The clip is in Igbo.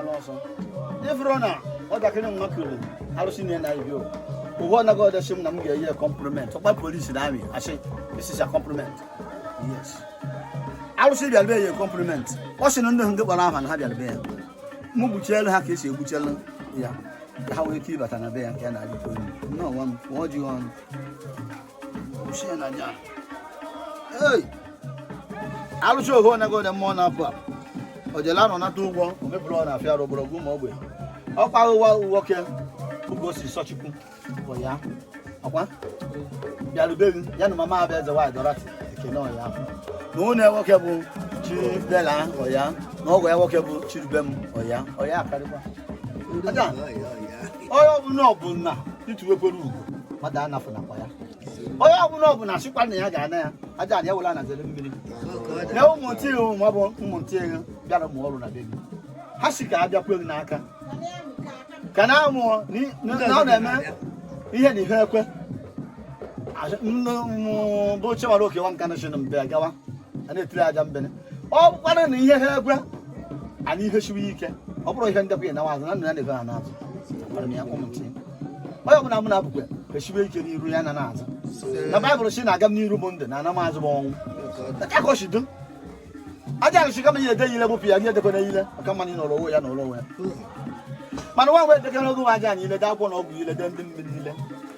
n'ọsọ ịfụrụ na nwatakịrị nwa kiri arụsị na na ibi ụgwọ anaghị ọdọchi m na m ga-enye compliment ọkpa polisi na amị asị isisa compliment yes arụsị bịara be ya compliment ọ sị na ndị ndị kpọrọ aha na ha bịara be ya m gbuchielu ha ka esi egbuchelu ya ka ha nwee ike ịbata na be ya nke a na-adịkwa elu nnọọ nwa m nwa ojiọnụ alụsị ohu onye gode mmụọ na-apụ apụ ojele anọ nata ụgwọ omebụrụ ọ na-afịa arụ ogologo ụmụ ogbe ọkwa ụwa nwoke oge o si sọchukwu bụ ya ọkwa bịarubeghị ya na mama abịa eze nwaanyị dọrati ekene ọya na ụnụ nwoke bụ chibela ọya na ọgwụ ya nwoke bụ chirube m ọya ọya akarịkwa onye ọbụla ọbụla ntụwekwere ugwu mmadụ anafụnakwa ya onye ọbụla ọbụla sịkwa na ya ga-ana ya aja na ya wela na zere mmiri na ụmụntị ihu ma ọ bụ ụmụntị ihu bịara mụọ ọrụ na be gị ha sị ka ha bịa kwee gị n'aka ka na amụọ na ọ na-eme ihe na ihe ekwe bụ chewara okewa nka na chinụ mbe gawa a na-etiri aja mbene ọ bụkwara na ihe ha ekwe anyị ihe siwe ike ọ bụrụ ihe ndekwa na azụ na nna ya na-ego ha n'azụ onye ọbụla mụ na-abụkwa esiwe ike n'iru ya na n'azụ na baịbụl sị na aga m n'iru bụ ndụ na ana m azụ bụ ọnwụ akọchido aja arụsị kama ya edeyile gbụpụ ya nye edekwana ile maka mmanụ n'ụlọ onwe ya na ụlọ onwe ya mana nwa nwe edekere oge nwa aja anyị ile daa akwụkwọ na ọgwụ ile dee ndị mmiri ile